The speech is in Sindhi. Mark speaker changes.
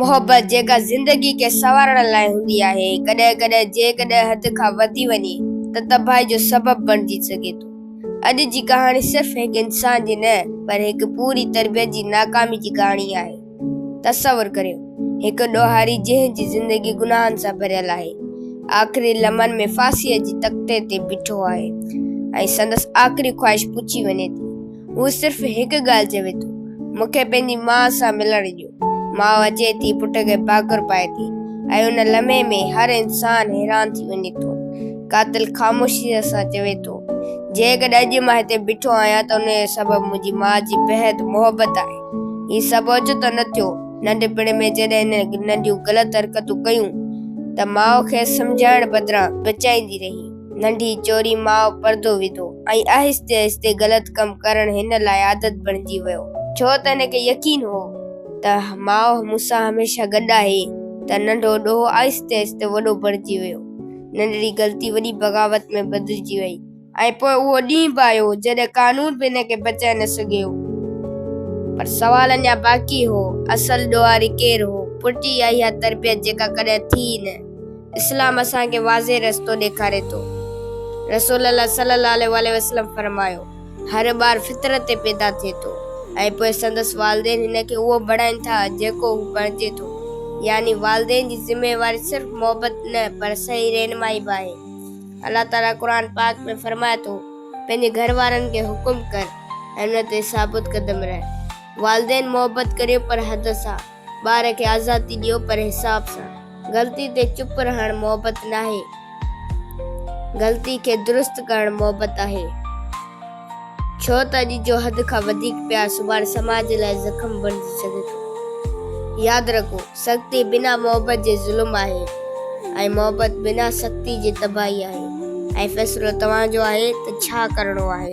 Speaker 1: محبت جيڪا زندگي کي سنوارڻ لاء هوندي آهي، ڪڏهن ڪڏهن جيڪڏهن حد کان وڌي وڃي ته تباهي جو سبب بڻجي سگهي ٿو. اڄ جي ڪهاڻي صرف هڪ انسان جي نه پر هڪ پوري تربيت جي ناڪامي جي ڪهاڻي آهي. تصور ڪريو هڪ ڏوهاري جنهن جي زندگي گناهن سان ڀريل آهي، آخري لمحن ۾ ڦاسيء جي تختي تي بيٺو آهي ۽ سندس آخري خواهش پچي وڃي ٿي. هو صرف هڪ ڳالهه چوي ٿو، مون کي پنهنجي ماء سان ملڻ ڏيو. ماء اچي ٿي، پٽ کي پاکر پائي ٿي ۽ ان لمحي ۾ هر انسان حيران ٿي وڃي ٿو. قاتل خاموشيء سان چوي ٿو، جيڪڏهن اڄ مان هتي بيٺو آهيان ته ان جو سبب منهنجي ماء جي بيحد محبت آهي. هي سڀ اوچتو نه ٿيو. ننڍپڻ ۾ جڏهن هن ننڍيون غلط حرڪتون ڪيون ته ماء کيس سمجهائڻ بدران بچائيندي رهي. ننڍي چوري ماء پردو وڌو ۽ آهستي آهستي غلط ڪم ڪرڻ هن لاء عادت بڻجي ويو ڇو ته هن کي يقين هو ته ماء مون سان هميشه گڏ آهي ته ننڍو ڏوهه آهستي آهستي وڏو بڻجي ويو ننڍڙي غلطي وڏي بغاوت ۾ بدلجي وئي ۽ پوء اهو ڏينهن به آيو جڏهن قانون به هن کي بچائي نه سگهيو پر سوال اڃا باقي هو اصل ڏوهاري ڪير هو پٽ ئي آهي اها تربيت جيڪا ڪڏهن ٿي ئي نه اسلام اسان کي واضح رستو ڏيکاري ٿو. رسول الله صلي الله عليه واٰله وسلم فرمايو، هر ٻار فطرت تي پيدا ٿئي ٿو ۽ پوء سندس والدين هن کي اهو بڻائين ٿا جيڪو هو بڻجي ٿو. يعني والدين جي ذميواري صرف محبت نه پر صحيح رهنمائي به آهي. الله تعاليٰ قرآن پاڪ ۾ فرمائي ٿو، پنهنجي گهر وارن کي حڪم ڪر ۽ ان تي ثابت قدم رهه. والدين محبت ڪريو پر حد سان. ٻار کي آزادي ڏيو پر حساب سان. غلطي تي چپ رهڻ محبت ناهي. غلطي کي درست ڪرڻ محبت آهي. ڇو ته اڄ جو حد کان وڌيڪ پيار سڀاڻي سماج لاء زخم بڻجي سگهي ٿو. ياد رکو سختي بنا محبت جي ظلم آهي. ۽ محبت بنا سختي جي تباهي آهي ۽ فيصلو توهان جو آهي ته ڇا ڪرڻو آهي.